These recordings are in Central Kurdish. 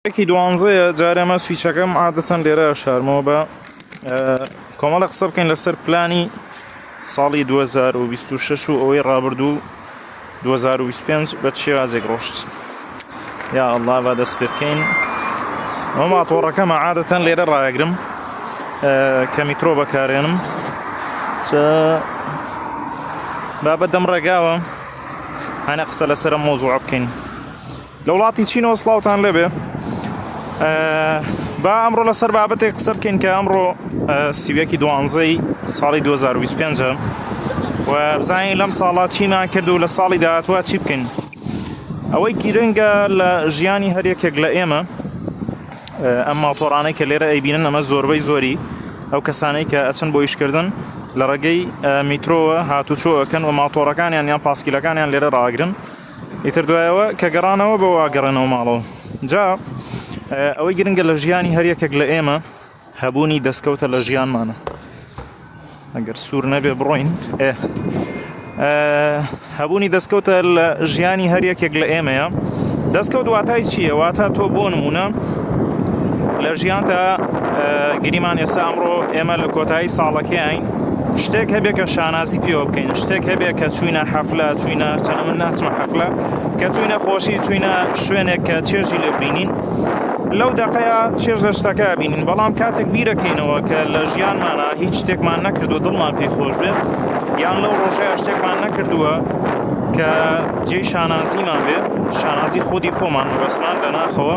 یەکی دوانزەیە جارێ مە سویچەکەم عادەتەن لێرە شارمەوە بە کۆمەڵە قسە بکەین لەسەر پلانی ساڵی 2026 و ئەوەی ڕابردوو 2025 بە چێوازێک ڕۆشت یا ئەڵا بە دەست پێ بکەین ئەو ماتۆڕەکەمە عادەتەن لێرە ڕایگرم کە میترۆ بەکارێنم بابەت دەم ڕێگاوە هەنە قسە لەسرە مۆزوع بکەین. لە وڵاتی چینەوە سڵاوتان لێبێ با ئەمڕۆ لەسەر بابەتێک قسە بکەین کە ئەمڕۆ سیویەکی دوانزەی ساڵی 2025 و بزانین لەم ساڵا چیمان کرد و لە ساڵی داهاتوە چی بکەین ئەوەی گیرنگە لە ژیانی هەر یەکێک لە ئێمە ئەم ماتۆڕانەی کە لێرە ئەیبینن ئەمە زۆربەی زۆری ئەو کەسانەی کە ئەچن بۆ یشکردن لە ڕێگەی میترۆوە هاتوچۆەکەن و ماتۆڕەکانیان یان پاسکیلەکانیان لێرە ڕاگرن ئیتر دوایەوە کە گەڕانەوە بەوە گەڕێنەوە ماڵەوە جا ئەوەی گرنگە لە ژیانی هەر یەکێک لە ئێمە هەبوونی دەستکەوتە لە ژیانمانە ئەگەر سوور نەبێ بڕۆین ئێ هەبوونی دەستکەوتە لە ژیانی هەر یەکێک لە ئێمەیە دەستکەوت واتای چییە واتا تۆ بۆ نمونە لە ژیانتە گریمان ئێستا ئەمڕۆ ئێمە لە کۆتایی ساڵەکەیین شتێک هەبێ کە شانازی پێوە بکەین شتێک هەبێ کە چوینە حەفلە چوینە هەرچەنە من ناچمە حەفلە کە چوینە خۆشی چوینە شوێنێک کە چێژی لێ بینین لەو دەقەیە چێژ لە شتەکە بینین بەڵام کاتێک بیرەکەینەوە کە لە ژیانمانە هیچ شتێکمان نەکردو دڵمان پێی خۆش بێت یان لەو ڕۆژەیە شتێکمان نەکردووە کە جێی شانازیمان بێت شانازی خودی خۆمان بەسمان لە ناخەوە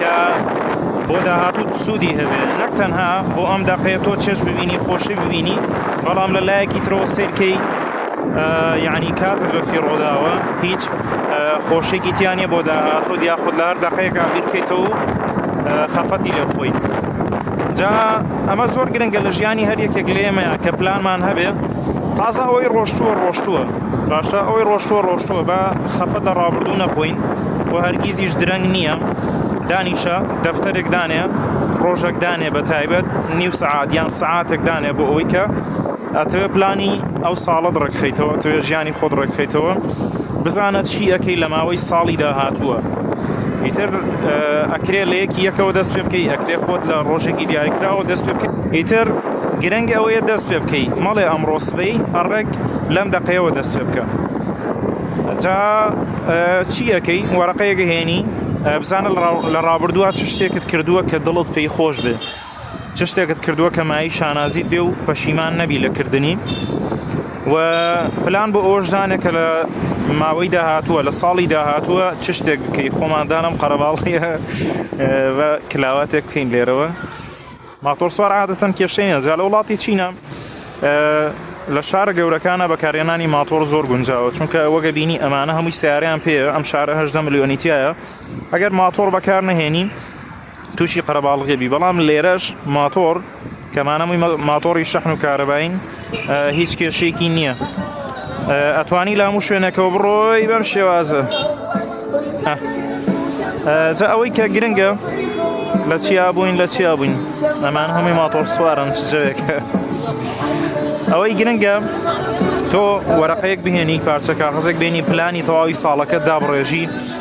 کە بۆ داهاتووت سوودی هەبێ نەک تەنها بۆ ئەم دەقەیە تۆ چێژ ببینی خۆشی ببینی بەڵام لە لایەکی ترەوە سیرکەی یعنی کاتت بە فیڕۆداوە هیچ خۆشێکی تیانە بۆ داهاتوو یاخود لە هەر دەقەیەکە بیرکەیتەوە خەفەتی لێ بخۆی جا ئەمە زۆر گرنگە لە ژیانی هەر یەکێک لێمەیە کە پلانمان هەبێ تازە ئەوەی ڕۆشتووە ڕۆشتووە باشە ئەوەی ڕۆشتووە ڕۆشتووە با خەفەت لە ڕابردوو نەخۆین و هەرگیزیش درەنگ نییە دانیشە دەفتەرێک دانێ ڕۆژێک دانێ بە تایبەت نیو سەعات یان سەعاتێک دانێ بۆ ئەوەی کە ئەتەوێ پلانی ئەو ساڵت ڕێکخیتەوە ئەتەوێ ژیانی خۆت ڕێکخیتەوە بزانە چی ئەەکەی لە ماوەی ساڵی داهاتووە ئیتر ئەکرێ لە یەکی یەکەوە دەست پێ بکەی ئەکرێ خۆت لە ڕۆژێکی دیاریکراوە دەست پێ بکەیت ئیتر گرنگ ئەوەیە دەست پێ بکەی مەڵێ ئەمڕۆ سبەی ئەڕێک لەم دەقەیەوە دەست پێ بکە. جا چی ئەەکەی وەرەقەیەکە هێنی بزانە لە ڕابردووە چ شتێکت کردووە کە دڵت پێی خۆش بێ چ شتێکت کردووە کە مایی شانازیت بێ و پەشیمان نەبی لە کردنی و پلان بۆ ئەوەشدانە کە لە ماوەی داهاتووە لە ساڵی داهاتووە چ شتێک بکەی خۆماندانم قەرەباڵی کلااواتێک بکەین لێرەوە. ماتۆڕسوار عادەتەن کێشەی نیە جا لە وڵاتی چینە لە شارە گەورەکانە بەکارێنانی ماتۆر زۆر گونجاوە چونکە وەگە بینی ئەمانە هەمووی سیاریان پێ ئەم شارە هەشدە ملیۆنیتیایە ئەگەر ماتۆر بەکار نهێنی تووشی قەرەباڵغێبی بەڵام لێرەش ماتۆر کەمانەمووی ماتۆری شەحن و کارەبین هیچ کێشێکی نییە ئەتوانی لام و شوێنەکەەوە بڕۆی بەم شێوازە جا ئەوەی کە گرنگە لە چیا بووین لە چیا بووین ئەمان هەمووی ماتۆر سوارن چ جەوێکە ئەوەی گرنگە تۆ وەرەقەیەک بهێنی پارچەکە حەزێک بینی پلانی تەواوی ساڵەکە دابڕێژی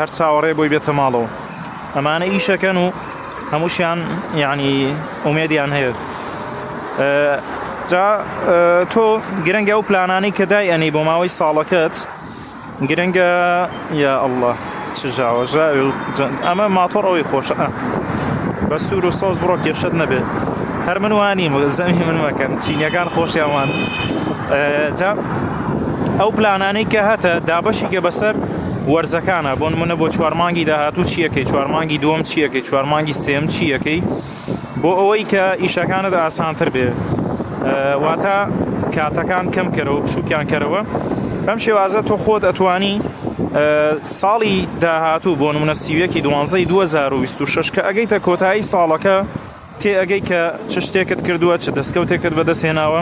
هەر چاوەڕێ بۆی بێتە ماڵەوە ئەمانە ئیشەکەن و هەمووشیان یعنی ئومێدیان هەیە جا تۆ گرنگە و پلانانی کە دای ئەنی بۆ ماوەی ساڵەکەت گرنگە یا ئەله چژاوە ژاوی و ئەمە ماتۆڕ ئەوەی خۆشە بە سوور و سەوز بڕۆ کێشت نەبێت هەر من وانیم زەمی من مەکەن چینەکان خۆشیان وان جا ئەو پلانانەی کە هەتە دابەشی کە بەسەر وەرزەکانە بۆن منە بۆ چوارمانگی داهاتوو چیەکەی چوارمانگی دووەم چیەکەی چوارمانگی سێم چیەکەی بۆ ئەوەی کە ئیشەکانت ئاسانتر بێ واتە کاتەکان کەم کەرەوە بچووکیان کەرەوە بەم شێوازە تۆ خۆت ئەتوانی ساڵی داهاتوو بۆ نمونە سیوەکی دوانزەی 2026 کە ئەگەیتە کۆتایی ساڵەکە تێ ئەگەی کە چ شتێکت کردووە چ دەستکەوتێکت بەدەست هێناوە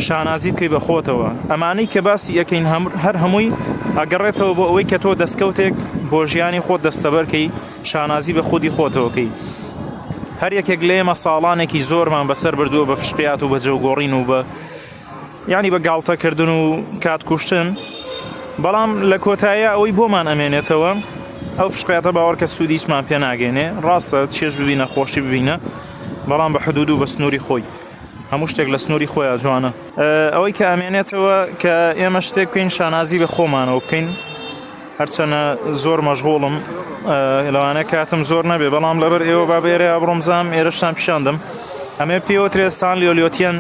شانازی بکەی بە خۆتەوە ئەمانەی کە باسی ئەەکەین هەر هەمووی ئەگەڕێتەوە بۆ ئەوەی کە تۆ دەستکەوتێک بۆ ژیانی خۆت دەستەبەرکەی شانازی بە خودی خۆتەوەکەی هەر یەکێک لێمە ساڵانێکی زۆرمان بەسەر بردووە بە فشقیات و بە جەوگۆڕین و بە یانی بە گاڵتە کردن و کات کوشتن بەڵام لە کۆتایە ئەوەی بۆمان ئەمێنێتەوە ئەو فشقیاتە باوەڕکە سوودی هیچمان پێ ناگەێنێ ڕاستە چێژ ببینە خۆشی ببینە بەڵام بە حدود و بە سنووری خۆی هەموو شتێک لە سنووری خۆیان جوانە ئەوەی کە ئەمێنێتەوە کە ئێمە شتێک بکەین شانازی بە خۆمانەوە بکەین هەرچەنە زۆر مەژغوڵم لەوانە کاتم زۆر نەبێ بەڵام لەبەر ئێوە با بێرە ئەبڕۆمزام ئێرەشتان پیشاندم ئەمێ پێوەترێ سان لیۆلیۆتیەن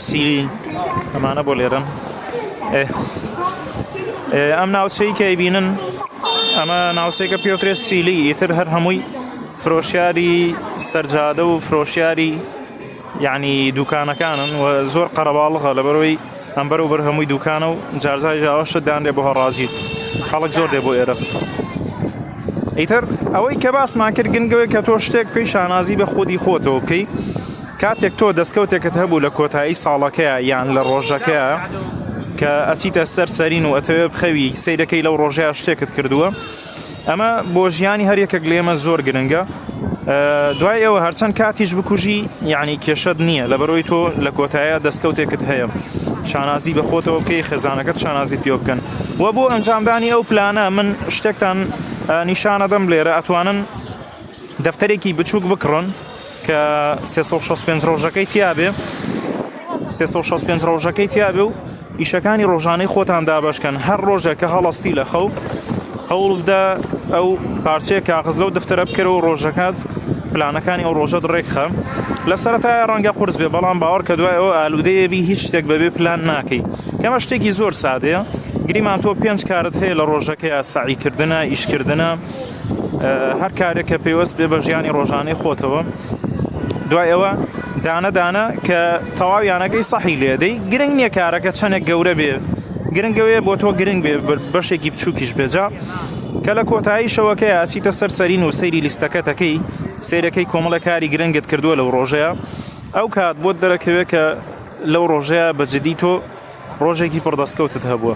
سیری ئەمانە بۆ لێرم ئەم ناوچەی کەی بینن ئەمە ناوچەیەکە پێوترێ سیلی ئیتر هەر هەمووی فرۆشیاری سەرجادە و فرۆشیاری یەعنی دوکانەکانن و زۆر قەرەباڵغە لەبەرەوەی ئەم بەرەو بەر هەمووی دوکانە و جار جاریش ئاوا شت دانرێ بۆ هەڕاجی خەڵک زۆر دێ بۆ ئێرە. ئیتر ئەوەی کە باسمان کرد گرنگ ئەوەیە کە تۆ شتێک بکەی شانازی بە خودی خۆتەوە بکەی کاتێک تۆ دەستکەوتێکت هەبوو لە کۆتایی ساڵەکەیا یان لە ڕۆژەکەیا کە ئەچیتە سەر سەرین و ئەتەوێ بخەوی سەیرەکەی لەو ڕۆژەیا شتێکت کردووە ئەمە بۆ ژیانی هەر یەکێک لێمە زۆر گرنگە دوای ئێوە هەرچەند کاتیش بکوژی یعنی کێشەت نییە لە بەرۆی تۆ لە کۆتایە دەستکەوتێکت هەیە شانازی بە خۆتەوە بکەی خێزانەکەت شانازی پێ بکەن و بۆ ئەنجامدانی ئەو پلانە من شتێکتان نیشانەدەم لێرە ئەتوانن دەفتەرێکی بچووک بکڕن کە سێ سەد و شەست و پێنج ڕۆژەکەی تیا بێ سێ سەد و شەست و پێنج ڕۆژەکەی تیا بێ و ئیشەکانی ڕۆژانەی خۆتان دابەش کەن هەر ڕۆژێک کە هەڵەستی لە خەو هەوڵ بدە ئەو پارچەیە کاغز لەو دەفتەرە بکەرە و ڕۆژەکەت پلانەکانی ئەو ڕۆژەت ڕێکخە لە سەرەتای ڕەنگە قورس بێ بەڵام باوەڕ کە دوای ئەو ئالوودەیە بی هیچ شتێک بەبێ پلان ناکەی کەمە شتێکی زۆر سادەیە گریمان تۆ پێنج کارت هەیە لە ڕۆژەکەیە سەعیکردنە ئیشکردنە هەر کارێک کە پەیوەست بێ بە ژیانی ڕۆژانەی خۆتەوە دوای ئەوە دانە دانە کە تەواویانەکەی سەحی لێدەی گرنگ نییە کارەکە چەندێک گەورە بێ گرنگەوەیە بۆ تۆ گرنگ بێ بەشێکی بچووکیش بێجا کە لە کۆتایی شەوەکەی ئاسیتە سەر سەرین و سەیری لیستەکەتەکەی سیرەکەی کۆمەڵە کاری گرنگت کردووە لەو ڕۆژەیە ئەو کات بۆت دەرەکەوێت کە لەو ڕۆژەیە بەجددی تۆ ڕۆژێکی پڕدەستکەوتت هەبووە.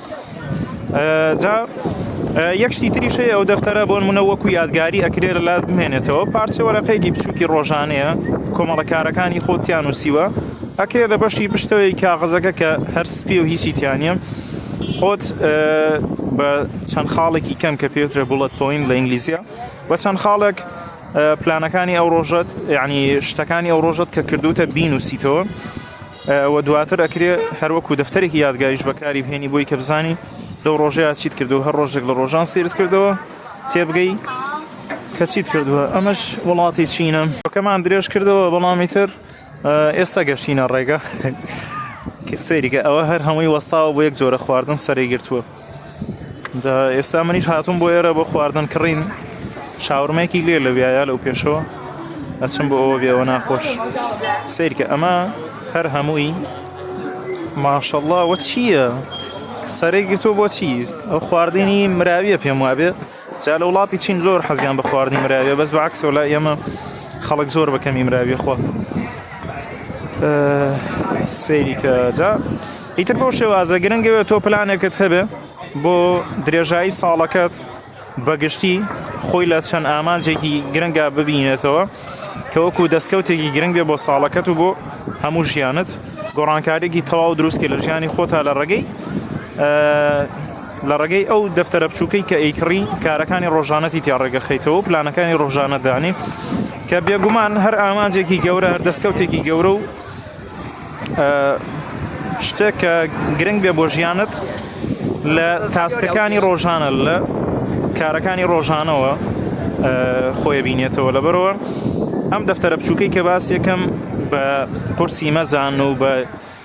جا یەک شتی تریش هەیە ئەو دەفتەرە بۆن منە وەکو یادگاری ئەکرێ لە لات بمێنێتەوە پارچە وەرەقەیەکی بچووکی ڕۆژانەیە کۆمەڵەکارەکانی خۆتیان وسیوە ئەکرێ لە بەشی پشتەوەی کاغزەکە کە هەر سپی و هیچی تیانە خۆت بە چەند خاڵێکی کەم کە پێوترە بڵەت پۆین لە ئینگلیزیە بە چەند خاڵێک پلانەکانی ئەو ڕۆژەت یعنی شتەکانی ئەو ڕۆژەت کە کردوتە بین و سیتەوە وە دواتر ئەکرێ هەر وەکو دەفتەرێکی یادگاریش بەکاری بهێنی بۆی کە بزانی لەو ڕۆژەیە چیت کردو هەر ڕۆژێک لە ڕۆژان سیرت کردەوە تێبگەی کە چیت کردووە ئەمەش وڵاتی چینە کەمان درێژ کردەوە بەڵامی تر ئێستا گەشتینە ڕێگە کە سەیریکە ئەوە هەر هەمووی وەستاوە بۆ یەک جۆرە خواردن سەری گرتووە. جا ئێستا منیش هاتووم بۆ ئێرە بۆ خواردن کڕین شاورمەیەکی لێ لە وایە لەو پێشەوە ئەچم بۆ ئەوە بێەوە ناخۆش سیرکە ئەمە هەر هەمووی ماشەڵڵا وە چییە؟ سەرێک گرتو بۆچی ئەو خواردنی مراویە پێم وابێ جا لە وڵاتی چین زۆر حەزیان بە خواردنی مراویە بەس بە عکسەوە لای ئێمە خەڵک زۆر بەکەمی مراویە خۆ سەیری کە جا ئیتر بۆ شێوازە گرنگەوێت تۆ پلانێکت هەبێ بۆ درێژایی ساڵەکەت بەگشتی خۆی لە چەند ئامانجێکی گرنگە ببینێتەوە کەوەکو دەستکەوتێکی گرنگ بێ بۆ ساڵەکەت و بۆ هەموو ژیانت گۆڕانکارێکی تەواو دروستکە لە ژیانی خۆتا لە ڕێگەی لە ڕێگەی ئەو دەفتەرە بچووکەی کە ئەیکڕی کارەکانی ڕۆژانەتی تیا ڕێگەخەیتەوە و پلانەکانی ڕۆژانە دانی کە بێگومان هەر ئامانجێکی گەورە هەر دەستکەوتێکی گەورە و شتێک کە گرنگ بێ بۆ ژیانت لە تاسکەکانی ڕۆژانە لە کارەکانی ڕۆژانەوە خۆی بینێتەوە لەبەرەوە ئەم دەفتەرە بچووکەی کە باس یەکەم بە قورسی مەزان و بە